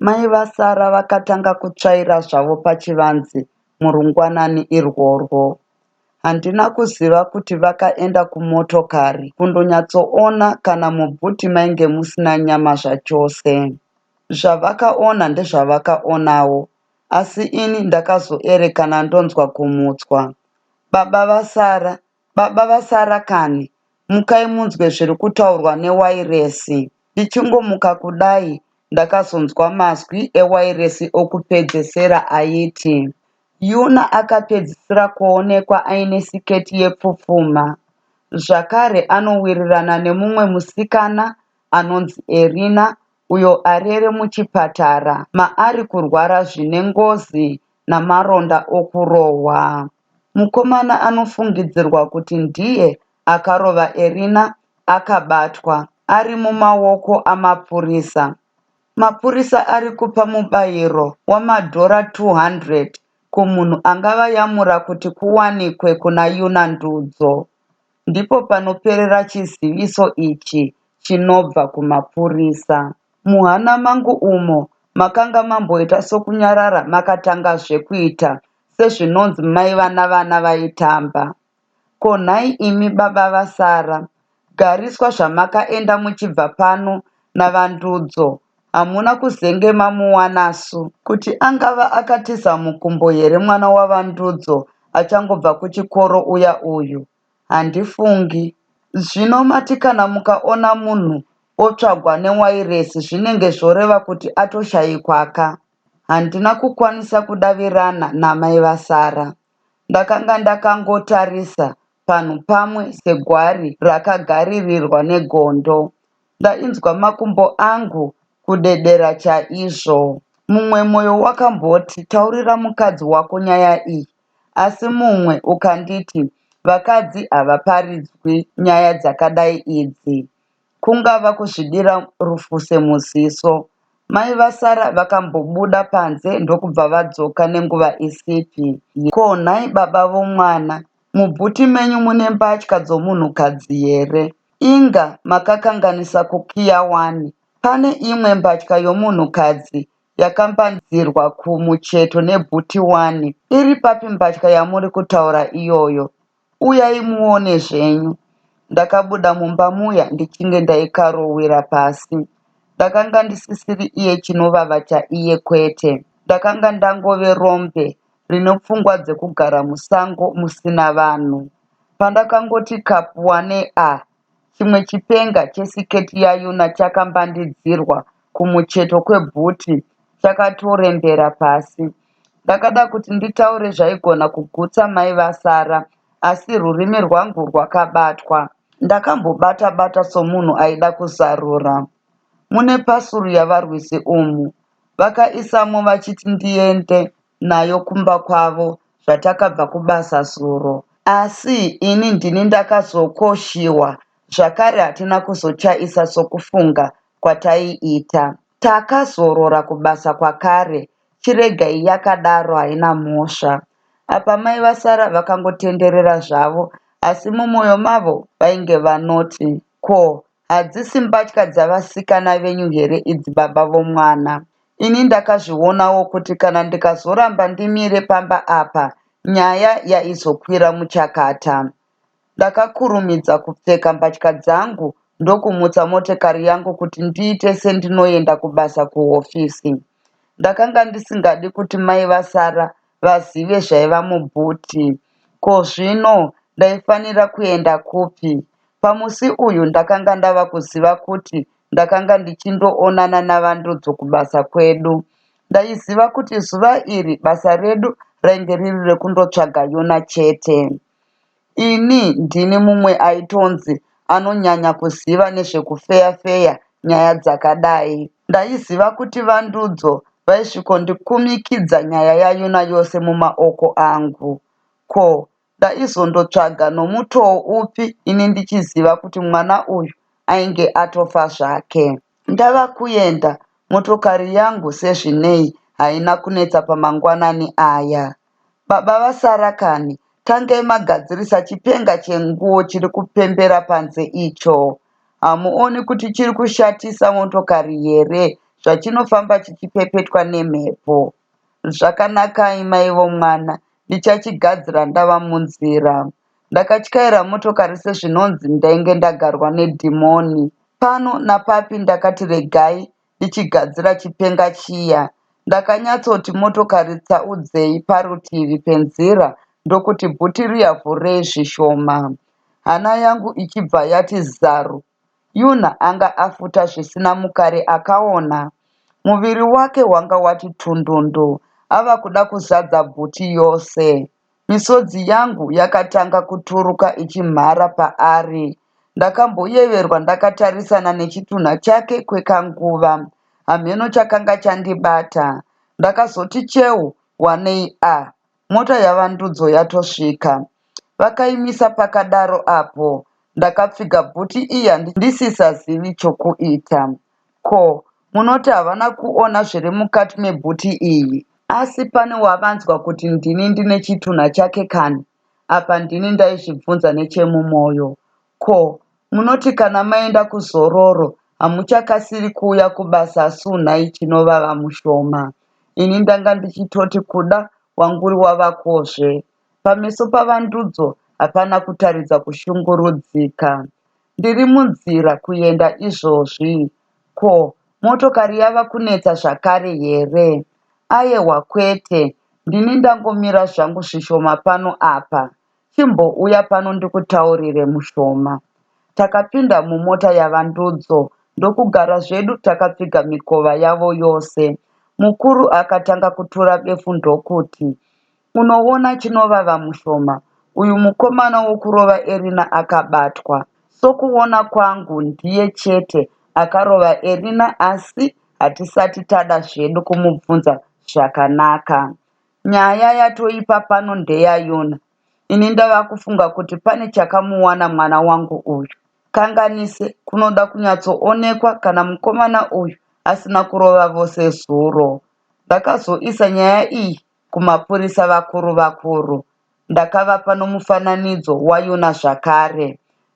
Mai vasara vakatanga kutsvaira zvavo pachivanze murungwanani irworwo. Handina kuziva kuti vakaenda kumotokari kundonyatsoona kana mubhuti mainge musina nyama zvachose. Zvavakaona ndezvavakaonawo asi ini ndakazoerekana ndonzwa kumutswa. Baba vasara Baba vasara kani, mukai munzwe zviri kutaurwa newairesi. Ndichingomuka kudai ndakazonzwa mazwi ewairesi okupedzesera aiti, Yuna akapedzisira kuonekwa aine siketi yepfupfuma. Zvakare anowirirana nemumwe musikana anonzi Erina uyo arere muchipatara maari kurwara zvine ngozi namaronda okurohwa. Mukomana anofungidzirwa kuti ndiye akarova Erina akabatwa ari mumaoko amapurisa. Mapurisa ari kupa mubayiro wamadhora 200 kumunhu angavayamura kuti kuwanikwe kuna Yuna Ndudzo. Ndipo panoperera chiziviso ichi chinobva kumapurisa. Muhana mangu umo makanga mamboita sokunyarara makatangazve kuita sezvinonzi mai vana vana vaitamba ko nhai imi baba vasara gariswa zvamakaenda muchibva pano naVandudzo hamuna kuzenge mamuwanasu. Kuti angava akatiza mukumbo here mwana waVandudzo achangobva kuchikoro uya uyu? Handifungi. Zvino mati kana mukaona munhu otsvagwa newairesi zvinenge zvoreva kuti atoshaikwa ka? Handina kukwanisa kudavirana namai vaSara. Ndakanga ndakangotarisa panhu pamwe segwari rakagaririrwa negondo. Ndainzwa makumbo angu kudedera chaizvo. Mumwe moyo wakamboti taurira mukadzi wako nyaya iyi asi mumwe ukanditi vakadzi havaparidzwi nyaya dzakadai idzi. kungava kuzvidira rufu semuziso. Mai vaSara vakambobuda panze ndokubva vadzoka nenguva isipi. Ko nhai baba vomwana, mubhuti menyu mune mbatya dzomunhukadzi here? Inga makakanganisa kukiya wani. Pane imwe mbatya yomunhukadzi yakambanzirwa kumucheto nebhuti wani. Iri papi mbatya yamuri kutaura iyoyo? Uyai muone zvenyu. Ndakabuda mumba muya ndichinge ndaikarowira pasi. Ndakanga ndisisiri iye chinovava chaiye kwete. Ndakanga ndangove rombe rine pfungwa dzekugara musango musina vanhu. Pandakangoti kapu wane ah Chimwe chipenga chesiketi yaYuna chakambandidzirwa kumucheto kwebhuti chakatorembera pasi. Ndakada kuti nditaure zvaigona kugutsa mai vaSara asi rurimi rwangu rwakabatwa. Ndakambobata bata somunhu aida kuzarura. Mune pasuru yavarwisi umu, vakaisamo vachiti ndiende nayo kumba kwavo zvatakabva kubasa zuro asi ini ndini ndakazokoshiwa zvakare hatina kuzochaisa sokufunga kwataiita. Takazorora kubasa kwakare chiregai yakadaro haina mhosva. Apa mai vaSara vakangotenderera zvavo asi mumoyo mavo vainge vanoti. Ko hadzisi mbatya dzavasikana venyu here idzi baba vomwana? Ini ndakazvionawo kuti kana ndikazoramba ndimire pamba apa nyaya yaizokwira muchakata. Ndakakurumidza kupfeka mbatya dzangu ndokumutsa motekari yangu kuti ndiite sendinoenda kubasa kuhofisi. Ndakanga ndisingadi kuti mai vaSara vazive zvaiva muboot. Ko zvino ndaifanira kuenda kupi? Pamusi uyu ndakanga ndava kuziva kuti ndakanga ndichindoonana naVandudzo kubasa kwedu. Ndaiziva kuti zuva iri basa redu rainge riri rekundotsvaga Yona chete. Ini ndini mumwe aitonzi anonyanya kuziva nezvekufeya-feya nyaya dzakadai. Ndaiziva kuti VaNdudzo vaisvikondikumikidza nyaya yaYuna yose mumaoko angu. Ko, ndaizondotsvaga nomutoo upi ini ndichiziva kuti mwana uyu ainge atofa zvake? Ndava kuenda, motokari yangu sezvinei haina kunetsa pamangwanani aya. Baba vasara kani, tangai magadzirisa chipenga chenguo chiri kupembera panze icho. Hamuoni kuti chiri kushatisa motokari here zvachinofamba chichipepetwa nemhepo? Zvakanakai mai vomwana, ndichachigadzira ndava munzira. Ndakatyaira motokari sezvinonzi ndainge ndagarwa nedhimoni. Pano napapi ndakati regai ndichigadzira chipenga chiya. Ndakanyatsoti motokari tsaudzei parutivi penzira ndokuti bhuti riya vhurei zvishoma. Hana yangu ichibva yati zaru. Yuna anga afuta zvisina mukare akaona. Muviri wake wanga wati tundundu ava kuda kuzadza bhuti yose. Misodzi yangu yakatanga kuturuka ichimhara paari. Ndakamboyeverwa ndakatarisana nechitunha chake kwekanguva. Hamheno chakanga chandibata. Ndakazoti cheu wanei a mota yaVaNdudzo yatosvika. Vakaimisa pakadaro apo ndakapfiga bhuti iya ndisisazivi chokuita. Ko munoti havana kuona zviri mukati mebhuti iyi? Asi pane wavanzwa kuti ndini ndine chitunha chake kani? Apa ndini ndaizvibvunza nechemumoyo. Ko munoti kana maenda kuzororo hamuchakasiri kuuya kubasa suu nhai chinovava mushoma? Ini ndanga ndichitoti kuda wanguri wavakozve. Pameso paVaNdudzo hapana kutaridza kushungurudzika. Ndiri munzira kuenda izvozvi. Ko, motokari yava kunetsa zvakare here? Ayewa kwete, ndini ndangomira zvangu zvishoma pano apa. Chimbouya pano ndikutaurire mushoma. Takapinda mumota yaVaNdudzo ndokugara zvedu takapfiga mikova yavo yose. Mukuru akatanga kutura befu ndokuti, Unoona chinovava mushoma uyu mukomana wokurova Erina akabatwa. Sokuona kwangu ndiye chete akarova Erina asi hatisati tada zvedu kumubvunza zvakanaka. Nyaya yatoipa pano ndeyaYona. Ini ndava kufunga kuti pane chakamuwana mwana wangu uyu. Kanganise, kunoda kunyatsoonekwa kana mukomana uyu asina kurova vose zuro. Ndakazoisa nyaya iyi kumapurisa vakuru vakuru. Ndakavapa nomufananidzo waYona zvakare.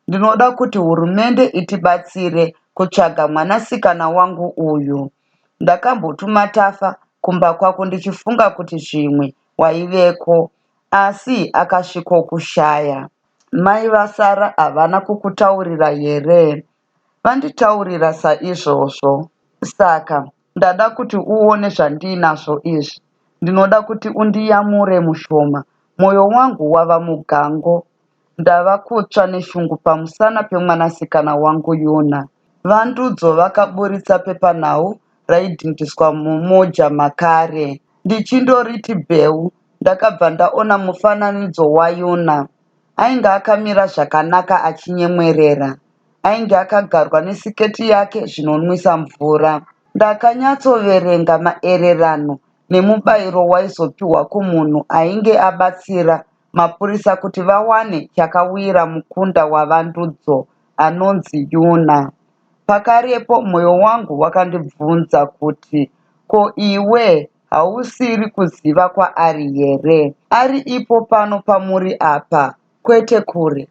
Ndinoda kuti hurumende itibatsire kutsvaga mwanasikana wangu uyu. Ndakambotuma Tafa kumba kwako ndichifunga kuti zvimwe waiveko, asi akasvikokushaya. Mai vaSara havana kukutaurira here? Vanditaurira saizvozvo. Saka ndada kuti uone zvandiinazvo izvi. Ndinoda kuti undiyamure mushoma. Moyo wangu wava mugango. Ndava kutsva neshungu pamusana pemwanasikana wangu Yuna. Vandudzo vakaburitsa pepanhau raidhindiswa mumoja makare. Ndichindoriti bheu ndakabva ndaona mufananidzo waYuna. Ainge akamira zvakanaka achinyemwerera. Ainge akagarwa nesiketi yake zvinonwisa mvura. Ndakanyatsoverenga maererano nemubairo waizopihwa kumunhu ainge abatsira mapurisa kuti vawane chakawira mukunda waVandudzo anonzi Yuna. Pakarepo moyo wangu wakandibvunza kuti ko iwe Hausiri kuziva kwaari here? Ari ipo pano pamuri apa, kwete kure.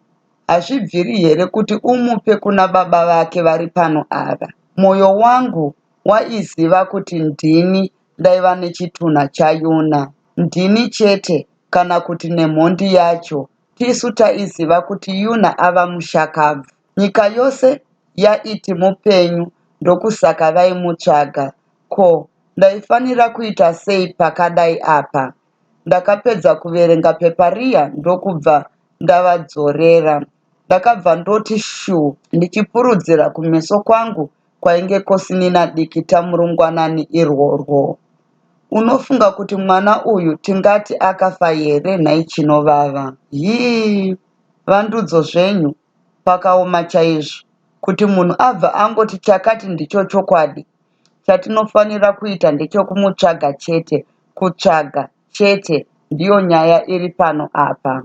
Hazvibviri here kuti umupe kuna Baba vake vari pano ava? Mwoyo wangu waiziva kuti ndini ndaiva nechitunha chaYuna. Ndini chete, kana kuti nemhondi yacho. Tisu taiziva kuti Yuna ava mushakabvu. Nyika yose yaiti mupenyu ndokusaka vaimutsvaga. Ko, ndaifanira kuita sei pakadai apa? Ndakapedza kuverenga pepa riya ndokubva ndavadzorera. Ndakabva ndoti shuu ndichipurudzira kumeso kwangu kwainge kosinina dikita murungwanani irworwo. Unofunga kuti mwana uyu tingati akafa here nhai Chinovava? Hii! Vandudzo zvenyu! pakaoma chaizvo kuti munhu abva angoti chakati ndicho chokwadi. Chatinofanira kuita ndechokumutsvaga chete. Kutsvaga, chete, ndiyo nyaya iri pano apa.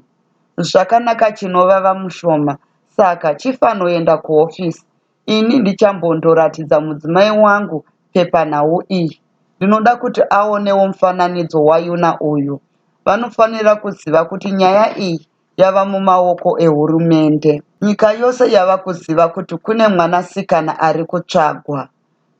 Zvakanaka, chinovava mushoma. Saka, chifanoenda kuhofisi. Ini ndichambondoratidza mudzimai wangu pepanhau iyi. Ndinoda kuti aonewo mufananidzo waYuna uyu. Vanofanira kuziva kuti nyaya iyi yava mumaoko ehurumende. Nyika yose yava kuziva kuti kune mwanasikana ari kutsvagwa.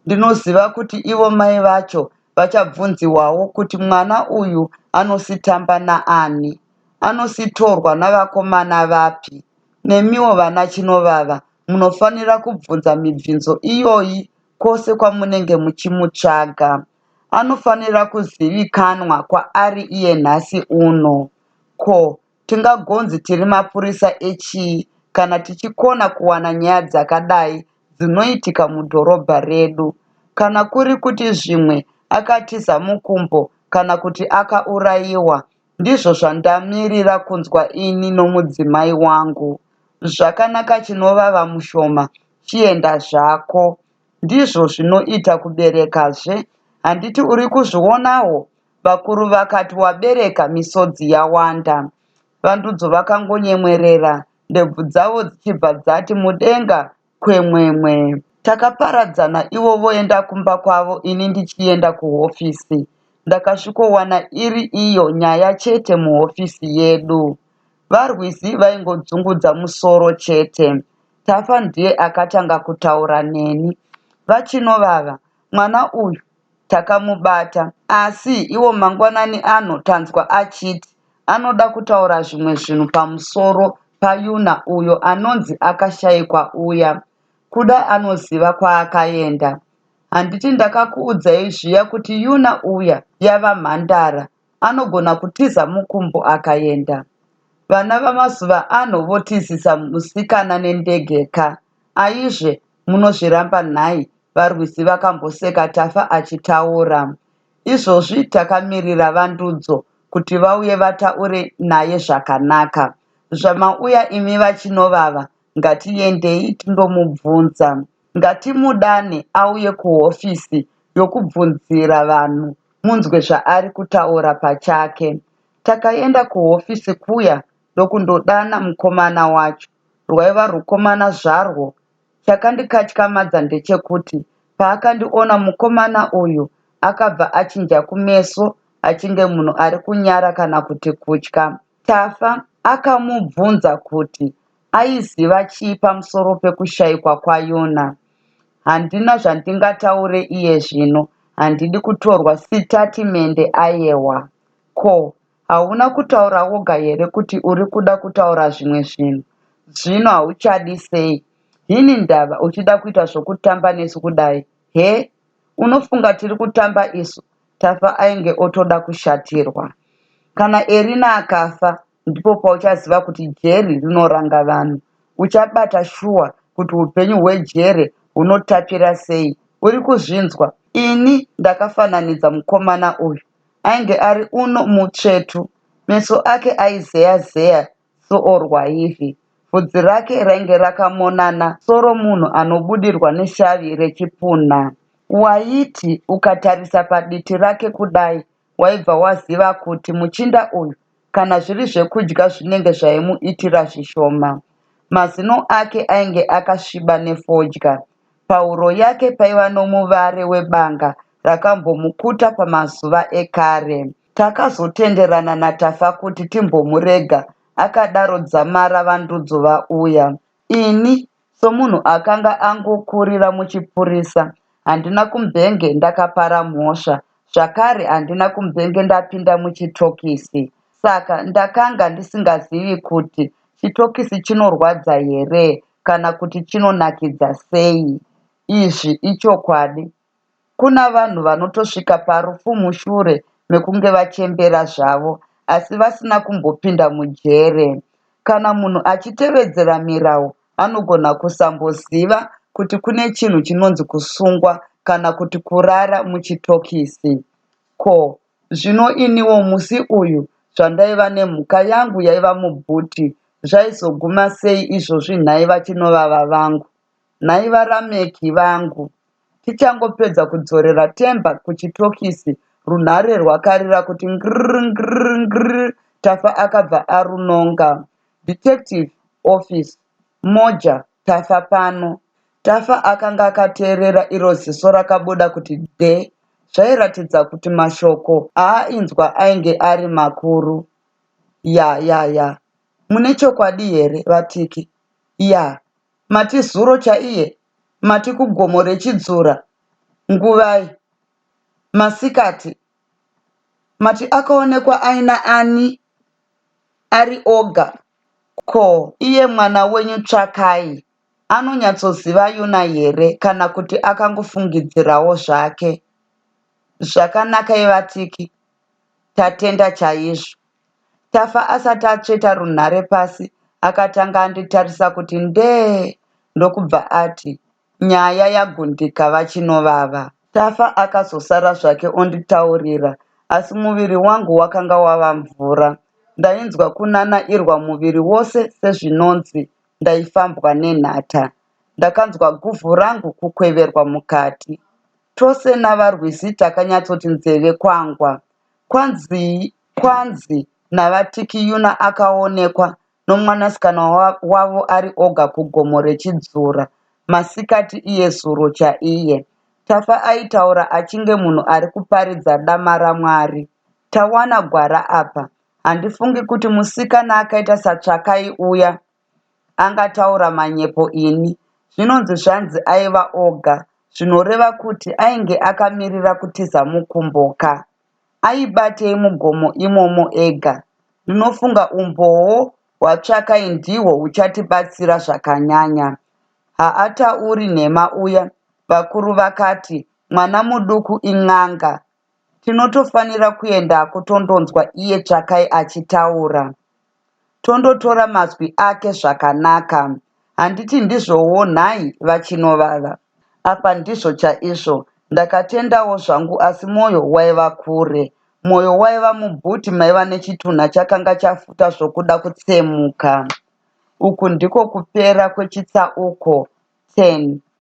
Ndinoziva kuti ivo mai vacho vachabvunziwawo kuti mwana uyu anositamba naani, anositorwa navakomana vapi. Nemiwo vana Chinovava munofanira kubvunza mibvinzo iyoyi kwose kwamunenge muchimutsvaga. Anofanira kuzivikanwa kwaari iye nhasi uno. Ko tingagonzi tiri mapurisa echii kana tichikona kuwana nyaya dzakadai dzinoitika mudhorobha redu? Kana kuri kuti zvimwe akatiza mukumbo kana kuti akaurayiwa, ndizvo zvandamirira kunzwa ini nomudzimai wangu. Zvakanaka chinovava mushoma, chienda zvako. Ndizvo zvinoita kuberekazve, handiti uri kuzvionawo? Vakuru vakati wabereka misodzi yawanda. Vandudzo vakangonyemwerera ndebvu dzavo dzichibva dzati mudenga kwemwemwe. Takaparadzana ivo voenda kumba kwavo ini ndichienda kuhofisi. Ndakasvikowana iri iyo nyaya chete muhofisi yedu. VaRwizi vaingodzungudza musoro chete. Tafa ndiye akatanga kutaura neni. VaChinovava, mwana uyu takamubata asi iwo mangwanani ano tanzwa achiti anoda kutaura zvimwe zvinhu pamusoro paUna uyo anonzi akashaikwa uya. Kuda anoziva kwaakaenda. Handiti ndakakuudzai zviya kuti Una uya yava mhandara anogona kutiza mukumbo akaenda. Vana vamazuva ano votizisa musikana nendege ka aizve munozviramba nhai varwizi vakamboseka Tafa achitaura. Izvozvi takamirira Vandudzo kuti vauye vataure naye zvakanaka. Zvamauya imi vaChinovava ngatiendei tindomubvunza. Ngatimudane auye kuhofisi yokubvunzira vanhu munzwe zvaari kutaura pachake. Takaenda kuhofisi kuya ndokundodana mukomana wacho. Rwaiva rwukomana zvarwo. Chakandikatyamadza ndechekuti paakandiona mukomana uyu akabva achinja kumeso achinge munhu ari kunyara kana kuti kutya. Tafa akamubvunza kuti aiziva chii pamusoro pekushaikwa kwaYona. Handina zvandingataure iye zvino, handidi kutorwa sitatimende. Ayewa. Ko, hauna kutaura woga here kuti uri kuda kutaura zvimwe zvinhu? Zvino hauchadi sei? Hini ndava uchida kuita zvokutamba nesu kudai? He? Unofunga tiri kutamba isu? Tafa ainge otoda kushatirwa. Kana Erina akafa ndipo pauchaziva kuti jeri rinoranga vanhu. Uchabata shuwa kuti upenyu hwejere hunotapira sei. Uri kuzvinzwa? Ini ndakafananidza mukomana uyu ainge ari uno mutsvetu. Meso ake aizeya-zeya soo rwaivhi. Vhudzi rake rainge rakamonana soromunhu anobudirwa neshavi rechipunha. Waiti ukatarisa paditi rake kudai waibva waziva kuti muchinda uyu kana zviri zvekudya zvinenge zvaimuitira zvishoma. Mazino ake ainge akasviba nefodya. Pahuro yake paiva nomuvare webanga rakambomukuta pamazuva ekare. Takazotenderana naTafa kuti timbomurega akadaro dzamara vandudzo vauya. Ini somunhu akanga angokurira muchipurisa handina kumbenge ndakapara mhosva zvakare handina kumbenge ndapinda muchitokisi saka ndakanga ndisingazivi kuti chitokisi chinorwadza here kana kuti chinonakidza sei. Izvi ichokwadi Kuna vanhu vanotosvika parufu mushure mekunge vachembera zvavo asi vasina kumbopinda mujere. Kana munhu achitevedzera mirau anogona kusamboziva kuti kune chinhu chinonzi kusungwa kana kuti kurara muchitokisi. Ko zvino iniwo musi uyu zvandaiva nemhuka yangu yaiva mubhuti zvaizoguma sei izvozvi nhai vachinovava vangu? Nhai vaRameki vangu. Tichangopedza kudzorera Themba kuchitokisi runhare rwakarira kuti ngirr ngirr ngirr Tafa akabva arunonga. Detective office. Moja, Tafa pano. Tafa akanga akateerera iro ziso rakabuda kuti de. Zvairatidza kuti mashoko aainzwa ainge ari makuru. Yah yah yah. Mune chokwadi here vaTiki? Yah Mati zuro chaiye mati kugomo rechidzora nguvai masikati mati akaonekwa aina ani ari oga ko iye mwana wenyu Tsvakai anonyatsoziva Yuna here kana kuti akangofungidzirawo zvake. Zvakanakai vatiki tatenda chaizvo. Tafa asati atsveta runhare pasi akatanga anditarisa kuti ndee ndokubva ati, Nyaya yaGundika vaChinovava. Tafa akazosara zvake onditaurira asi muviri wangu wakanga wava mvura. Ndainzwa kunanairwa muviri wose sezvinonzi ndaifambwa nenhata. Ndakanzwa guvhu rangu kukweverwa mukati. Tose naVaRwizi takanyatsoti nzeve kwangwa. Kwanzii Kwanzi naVaTikiyuna akaonekwa nomwanasikana wavo ari oga kugomo reChidzura masikati iye zuro chaiye. Tafa aitaura achinge munhu ari kuparidza dama raMwari. Tawana gwara apa. Handifungi kuti musikana akaita saTsvakai uya angataura manyepo ini. Zvinonzi zvanzi aiva oga zvinoreva kuti ainge akamirira kutiza mukumbo ka. aibatei mugomo imomo ega? Ndinofunga umbowo hwatsvakai ndihwo huchatibatsira zvakanyanya. Haatauri nhema uya, vakuru vakati, mwana muduku in'anga. Tinotofanira kuendako tondonzwa iye Tsvakai achitaura. tondotora mazwi ake zvakanaka handiti ndizvowo nhai vaChinovava? Apa ndizvo chaizvo ndakatendawo zvangu asi moyo waiva kure. Moyo waiva muboot maiva nechitunha chakanga chafuta zvokuda kutsemuka. Uku ndiko kupera kwechitsauko 10.